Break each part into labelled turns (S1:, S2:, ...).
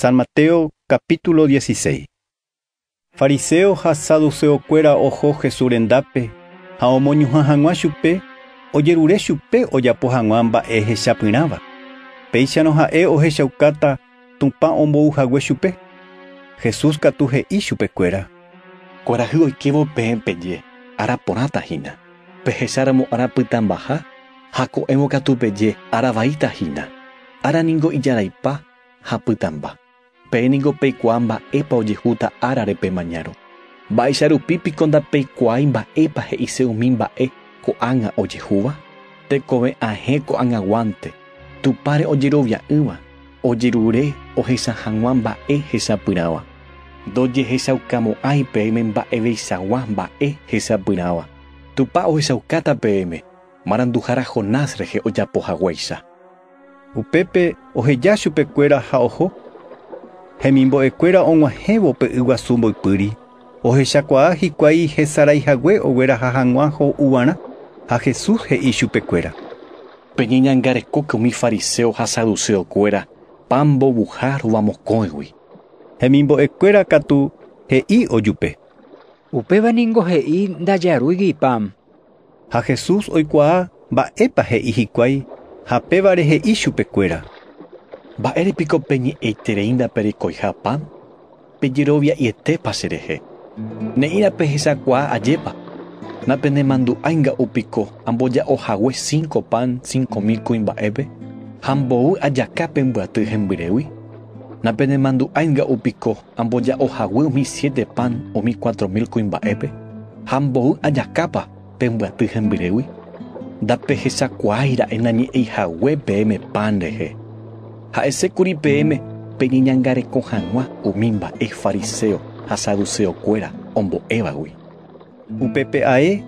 S1: San Mateo capítulo 16. Fariséo ha saduceokuéra oho Jesús rendápe ha omoñuhã hag̃ua chupe ojerure chupe ojapo hag̃ua mba'e hechapyrãva, péicharõ ha'e ohechaukáta Tupã ombou hague chupe. Jesús katu he'i chupekuéra. Kuarahy oikévo peẽ peje ára porãta hína, pehecháramo ára pytãmbaha ha ko'ẽvo katu peje ára vaíta hína. Ára ningo ijaraipa ha pytãmba. Peẽ ningo peikuaa mba'épa ojehúta árare pe mañárõ. Mba'éicha rupi piko ndapeikuaái mba'épa he'ise umi mba'e ko'ág̃a ojehúva? Tekove ahẽ ko'ag̃aguánte, Tupãre ojerovia'ỹva, ojerure ohecha hag̃ua mba'e hesapyrãva. Ndojehechaukamo'ãi peẽme mba'eveichagua mba'e hesapyrãva. Tupã ohechaukáta peẽme. Maranduhára Jonás rehe ojapo haguéicha. Upépe oheja chupe kuéra ha oho. Hemimbo'e kuéra og̃uahẽvo pe yguasu mboypýri, ohechakuaa hikuái hesarái hague ogueraha hag̃ua ho'uvarã, ha Jesús he'i chupe kuéra: “Peñeñangarekóke umi fariseo ha saduceo kuéra pan mbovuha rova mokõigui”. Hemimbo'e kuéra katu he'i ojupe: “Upéva ningo he'i ndajarúigui pan, Ha Jesús oikuaa mba'épa he'i hikuái ha pévare he'i chupekuéra: “¿Mba'ére piko peñe'ẽiterei ndaperekoiha pan? Pejerovia'ietépa cherehe? Ne'ĩra pehechakuaa ajépa. Napenemandu'ái nga'u piko amboja'o hague cinco pan cinco mil kuimba'épe ha mboy ajaka pembyaty hembyrégui? Napenemandu'ái nga'u piko Amboja'o hague umi siete pan umi cuatro mil kuimba'épe, ha amboy ajakápa pe mbyaty hembyrégui? Ndapehechakuaái ra'e nañe'ẽi hague peẽme pan rehe. Ha'ese kuri peẽme peñeñangareko hag̃ua umi mba'e fariséo ha saduséo kuéra ombo'évagui. Upépe ae,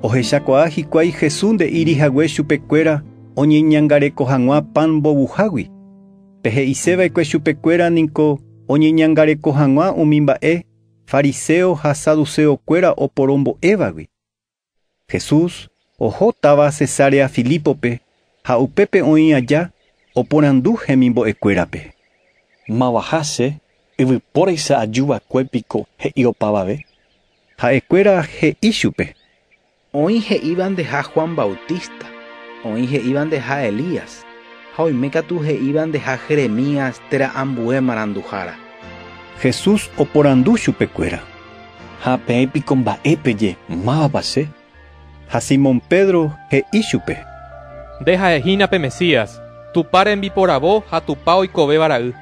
S1: ohechakuaa hikuái Jesús nde'íri hague chupe kuéra oñeñangareko hag̃ua pan mbovuhágui. Pe he'ise va'ekue chupe kuéra niko oñeñangareko hag̃ua umi mba'e fariseo ha saduceo kuéra oporo mbo'évagui. Jesús oho táva Cesarea Filípope ha upépe oĩ aja oporandu hemimbo'e kuérape. Mavaha che yvypóraicha aju va'ekue piko he'i opavave? Ha'e kuéra he'i chupe. Oĩ he'ívandeha Juan Bautista, oĩ he'ívandeha Elías, ha oime katu he'ívandeha Jeremías térã ambue maranduhára. Jesús oporandu chupekuéra, Ha peẽ piko mba'e peje, Mávapa che? Ha Simón Pedro he'i chupe. Nde ha'e hína pe Mesías, Tupã rembiporavo ha Tupã oikovéva Ra'y.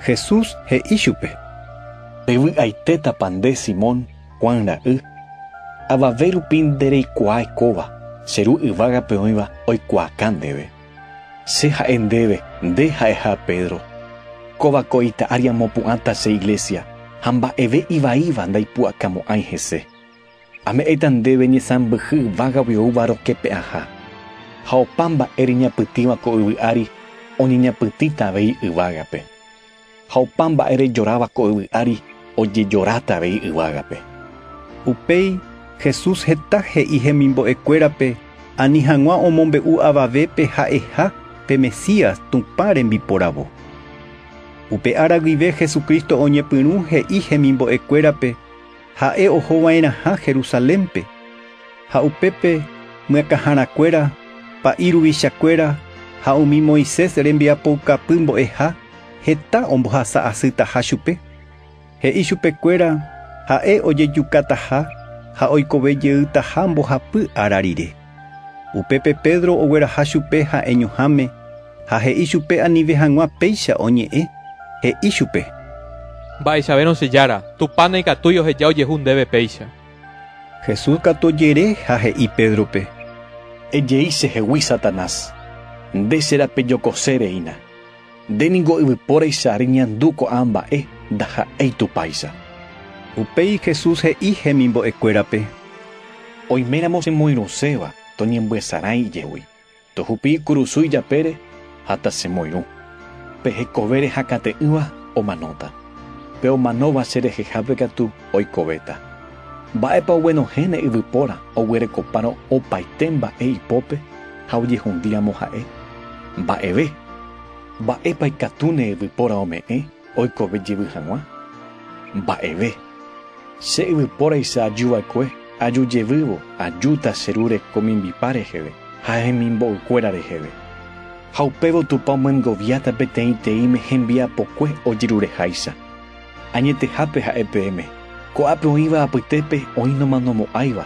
S1: Jesús he'i chupe. Pevy'aitétapa nde, Simón? Juan ra'y, avave rupi nde reikuaái kóva, che Ru yvágape oĩva oikuaakã ndéve. Che ha'e ndéve, nde ha'eha Pedro, kóva ko ita ári amopu'ãta che iglésia, ha mba'eve ivaíva ndaipu'akamo'ãi hese. Ame'ẽta ndéve ñesãmbyhy yvágagui oúva rokepe'ãha, ha opa mba'e reñapytĩva ko yvy ári oñeñapytĩta avei yvágape. Ha opa mba'e rejoráva ko yvy ári ojejoráta avei yvágape. Upéi Jesús heta he'i hemimbo'ekuérape ani hag̃ua omombe'u avavépe ha'eha pe Mesías, Tupã rembiporavo. Upe ára guive Jesucristo oñepyrũ he'i hemimbo'ekuérape ha'e oho va'erãha Jerusalénpe, ha upépe myakãharakuéra, pa'i ruvichakuéra ha umi Moisés rembiapoukapy mbo'eha, Heta ombohasa asytaha chupe, he'i chupe kuéra ha'e ojejukataha ha oikove jeytaha mbohapy ára rire. Upépe Pedro ogueraha chupe ha'e ñuhãme ha he'i chupe anive hag̃ua péicha oñe'ẽ, he'i chupe. Mba'eichavérõ che Jára, Tupã naikatúi oheja ojehu ndéve péicha. Jesús katu ojere ha he'i Pédrope. Ejei chehegui Satanás, nde che rapejokose reína. Nde ningo yvypóraicha ary ñandu ko'ã mba'e, ndaha'éi Tupáicha. Upéi Jesús he'i hemimbo'ekuérape, Oiméramo chemoirũséva, toñembyasarãi ijegui, tohupi kurusu ijapére ha tachemoirũ. Pe hekove rehakãte'ỹva omanóta, pe omanóva cherehehápe katu oikovéta. Mba'épa oguenohẽne yvypóra oguerekopárõ opaite mba'e ipópe ha ojehundíramo ha'e? Mba'eve. Mba'épa ikatúne yvypóra ome'ẽ oikove jevy hag̃ua? Mba'eve. Che yvypóraicha aju va'ekue, aju jevývo, ajúta che Ru reko mimbipa reheve ha hemimbo'ykuéra reheve. Ha upévo Tupã omyengoviáta peteĩteĩme hembiapokue ojerureháicha. Añetehápe ha'e peẽme, ko'ápe oĩva apytépe oĩ nomanomo'ãiva.